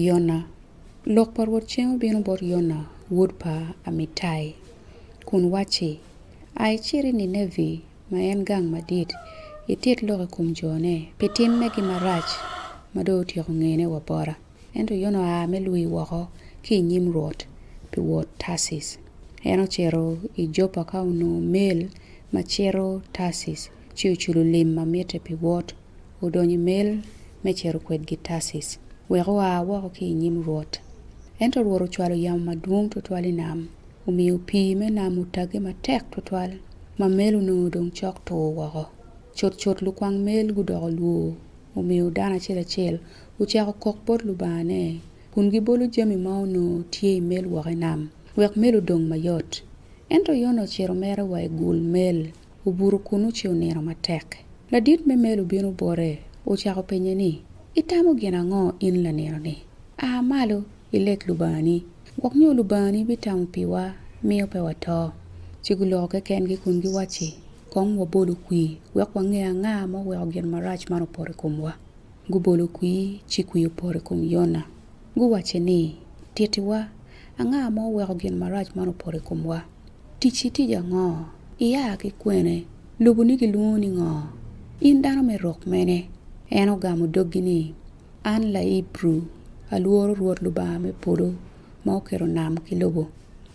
Yona. Lok pa Rwot cen obino bot Yona wod pa Amitai, kun wacci, Ai cit i Ninevi, ma en gang madit, itit lok i kom jone, pi tim megi marac ma dong otyeko ngene wa bota. Ento Yona oa me lwii woko ki i nyim Rwot pi wot Tarcis. En ocito i Jopa ka onongo mel ma cito Tarcis, ci oculo lim ma mitte pi wot odonyo i mel me cito kwedgi Tarcis wek oa woko ki i nyim Rwot. Ento Rwot ocwalo yamo madwong twatwal i nam, omiyo pii me nam otagge matek twatwal ma mel onongo dong cok tur woko. Cutcut lukwang mel gudoko lwo, omiyo dano acel acel ocako kok bot lubangane kun gibolo jami ma onongo tye i mel woko i nam wek mel odong mayot. Ento Yona ocito mere wa i gul mel. obuto kunnu ci onino matek. Ladit me mel obino bote, ocako penye ni, Itamo gin ango in lanino-ni? A malo, ileg Lubangani, gwok nyo Lubangani bitamo piwa, miyo pe wato. Ci guloko kekengi kun giwacci, Kong wabolu kwir, wek wange anga ma oweko gin marac man opoto i komwa. Gubolo kwir, ci kwir opoto i kom Yona. Guwacce ni, Tittiwa, anga ma oweko gin marac man opoto i komwa? Ticci tic ango? Ia ki kwene? Luboni gilwongo ni ngo? In dano me rok mene? En ogamo doggi ni, An Laibru, alworo Rwot Lubanga me polo ma okelo nam ki lobo.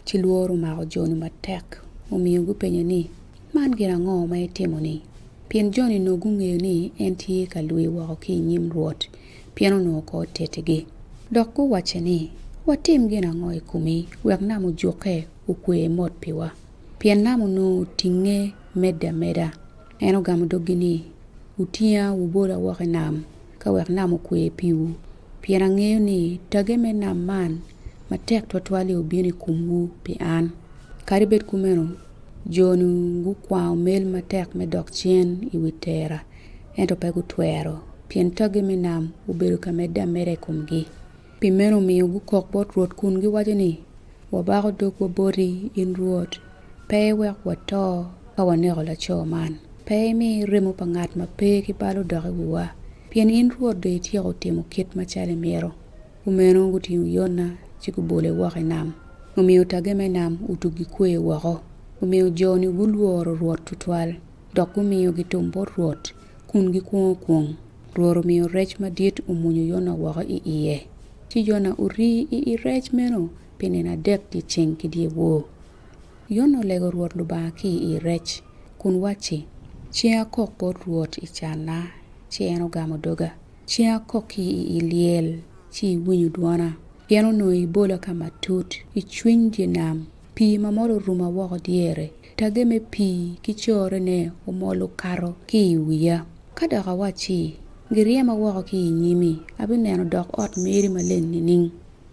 Ci lworo omako jo-ni matek, omiyo gupenya ni, Man gin ango ma itimo-ni? Pien jo-ni onongo gungeyo ni en tye ka lwi woko ki i nyim Rwot, pien onongo ko otetigi. Dok guwacce ni, Watim gin ango i komi wek nam ojukke okwe mot piwa? Pien nam onongo otinge medde ameda. En ogamo doggi ni, Wutinga wubola woko i nam ka wek nam okwe piwu, pien angeyo ni tage me nam man matek twatwal-li obino i komwu pi an. Kadi bed kumeno, jo-ni gukwango mel matek me dok cen i wi tera, ento pe gutwero, pien taggi me nam obedo ka medde ameda i komgi. Pi meno omiyo gukok bot Rwot kun giwaco ni, Wabako dogwa boti, in Rwot, pe iwek wato ka waneko laco man. Pe imi remo pa ngat ma pe ki bal odok i wiwa, pien in Rwot dong ityeko timo kit macalo imito. Kumeno gutingo Yona ci gubole woko i nam, omiyo tagge me nam otuggi kweyo woko, omiyo jo-ni gulworo Rwot twatwal. dok gumiyogi thum bot Rwot, kun gikwongo kwong. Rwot omiyo rec madit omwonyo Yona woko i iye, ci Yona orii i i rec meno pi nino adek dyeceng ki dyewor. Yona olego Rwot Lubanga ki i i rec, kun wacci, Cing akok bot Rwot i canna, ci en ogamo doga. Cing akok ki i i lyel, ci iwinyo dwona. Pien onongo ibola ka matut, i cwiny dye nam, pii ma mol oruma woko dyere. Tage me pii ki corone omol okato ki i wiya. Ka dok awacci, Giryema woko ki i nyimi, abineno dok ot meri maleng nining?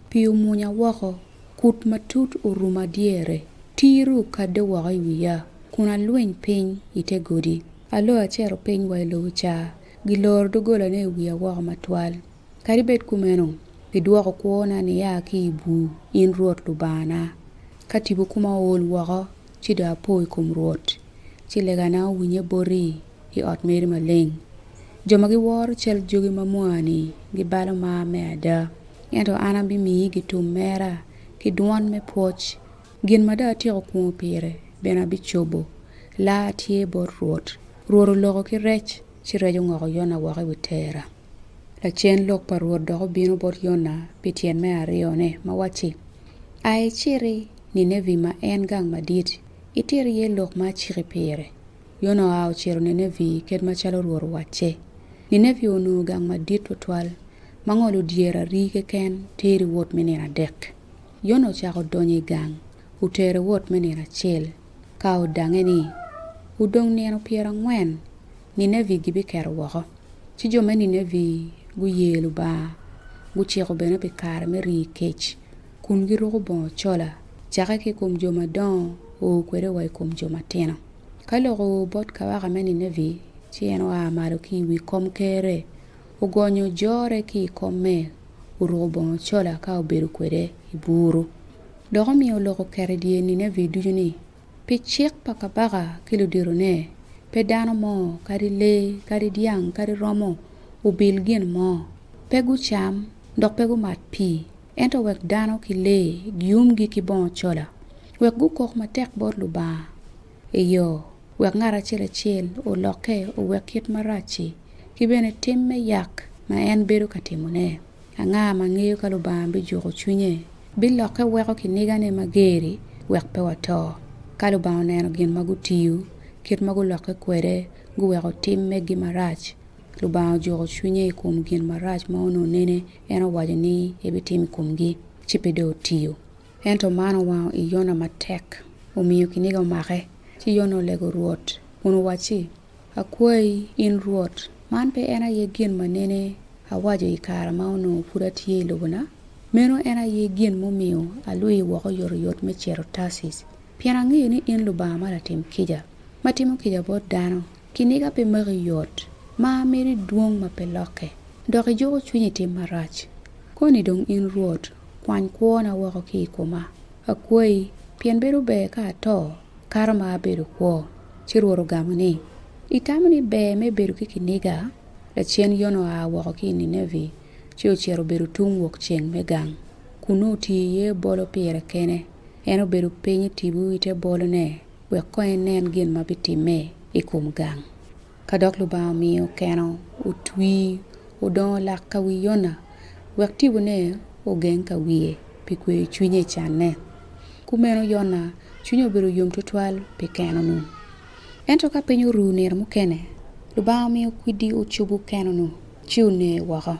Pii omunya woko, kut matut oruma dyere, tiri okadde woko i wiya, kun alwiny piny i te godi. Alo acito piny wa i lobo ca, giloro doggolane i wiya woko matwal. Kadi bed kumeno, idwoko kwona niya ki i bur, in Rwot Lubangana. Ka tipo koma ool woko, ci dong apo i kom Rwot, ci legana owinye boti i ot meri maleng. Jo ma giworo cal jogi ma mwa-ni gibalo mar me ada, ento an abimiyi gitum mera ki dwon me pwoc. Gin ma dong atyeko kwongo pire bene abicobo. Laa tye bot Rwot. Rwot oloko ki rec, ci rec ongoko Yona woko i wi tera. Lacen lok pa Rwot dok obino bot Yona pi tyen me aryone, ma wacci, Ai iciti Ninevi ma en gang madit, iter iye lok ma aciki pire. Yona oa ocito Ninevi kit macalo Rwot owacce. Ninevi onongo gang madit twatwal, ma ngolo dyere ari keken teri wot me nino adek. Yona ocako donyo i gang, otere wot me nino acel, ka odange ni, Wudong nino pyerangwen. Ninevi gibiketo woko. Ci jo me Ninevi guye Lubanga, guciko bene pi kare me rii kec, kun giruko bongo cola, cakke ki i kom jo madongo oo kwede wa i kom jo matino. Ka lok oo bot kawaka me Ninevi, ci en oa malo ki i wi komkerre, ogonyo jore ki i komme, oruko bongo cola ka obedo kwede i buru. Dok omiyo oloko oketo i dye Ninevi ducu ni, Pi cik pa kabaka ki luditone, pe dano mo, kadi lee, kadi dyang, kadi romo, obil gin mo. Pe gucam, dok pe gumat pii, ento wek dano ki lee giumgi ki bongo cola, wek gukok matek bot Lubanga, eyo, wek ngat acel acel olokke owek kit marac-ci, ki bene tim me yak ma en bedo ka timone. Anga ma ngeyo ka Lubanga bijuko cwinye? Bilokke weko kinigane mager-ri wek pe wato. Ka Lubanga oneno gin ma gutiyo, kit ma gulokke kwede, guweko tim megi marac, Lubanga ojuko cwinye i kom gin marac ma onongo nene en owaco ni ebitimo i komgi, ci pe dong otiyo. Ento man owango i Yona matek, omiyo kiniga omake. Ci Yona olego Rwot kun owacci, Akwayi, in Rwot, man pe en aye gin ma nene awaco i kare ma onongo pud atye i lobona? Meno en aye gin mumiyo alwii woko oyotoyot me cito Tarcis, pien angeyo ni in Lubanga ma latim kica, ma timo kica bot dano. Kiniga pe maki yot, mar meri dwong ma pe lokke, dok ijuko cwiny i tim marac. Koni dong in Rwot, kwany kwona woko ki i koma, akwayi, pien bedo ber ka ato kato ma abedo kwo. Ci Rwot ogamo ni, Itamo ni ber me bedo ki kiniga? Lacen Yona oa woko ki i Ninevi ci ocito obedo tung wokceng me gang. Kunnu otiyo iye bolo pire kene. En obedo piny i tipo i te bolone wek kong enen gin ma bitimme i kom gang. Ka dok Lubanga omiyo keno otwi odongo lak ka wi Yona wek tipone ogeng ka wiye pi kweyo cwinye i canne, kumeno Yona cwinye obedo yom twatwal pi keno-nu. Ento ka piny oru nino mukene, Lubanga omiyo kwidi ocubo keno-nu ci oneye woko.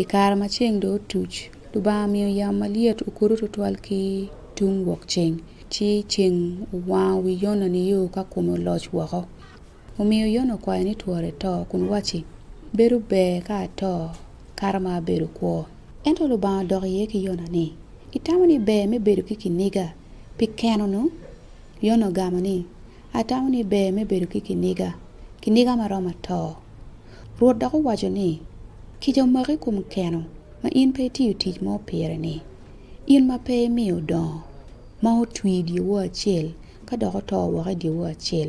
I kare ma ceng dong otuc, Lubanga omiyo yamo malyet okudo twatwal ki tung wokceng, ci ceng owango wi Yona nio ka kome oloc woko. Omiyo Yona okwayo ni twore eto, kun wacci, Bedo ber ka ato, kato ma abedo kwo. Ento Lubanga odok iye ki Yona ni, Itamo ni ber me bedo ki kiniga pi keno-nu? Yona ogamo ni, Atamo ni ber me bedo ki kiniga, kiniga ma romo ato. Rwot dok owaco ni, Kica omaki i kom keno ma in pe itiyo tic mo pire-ni, in ma pe imiyo odongo, ma otwi i dyewor acel, ka dok oto woko i dyewor acel.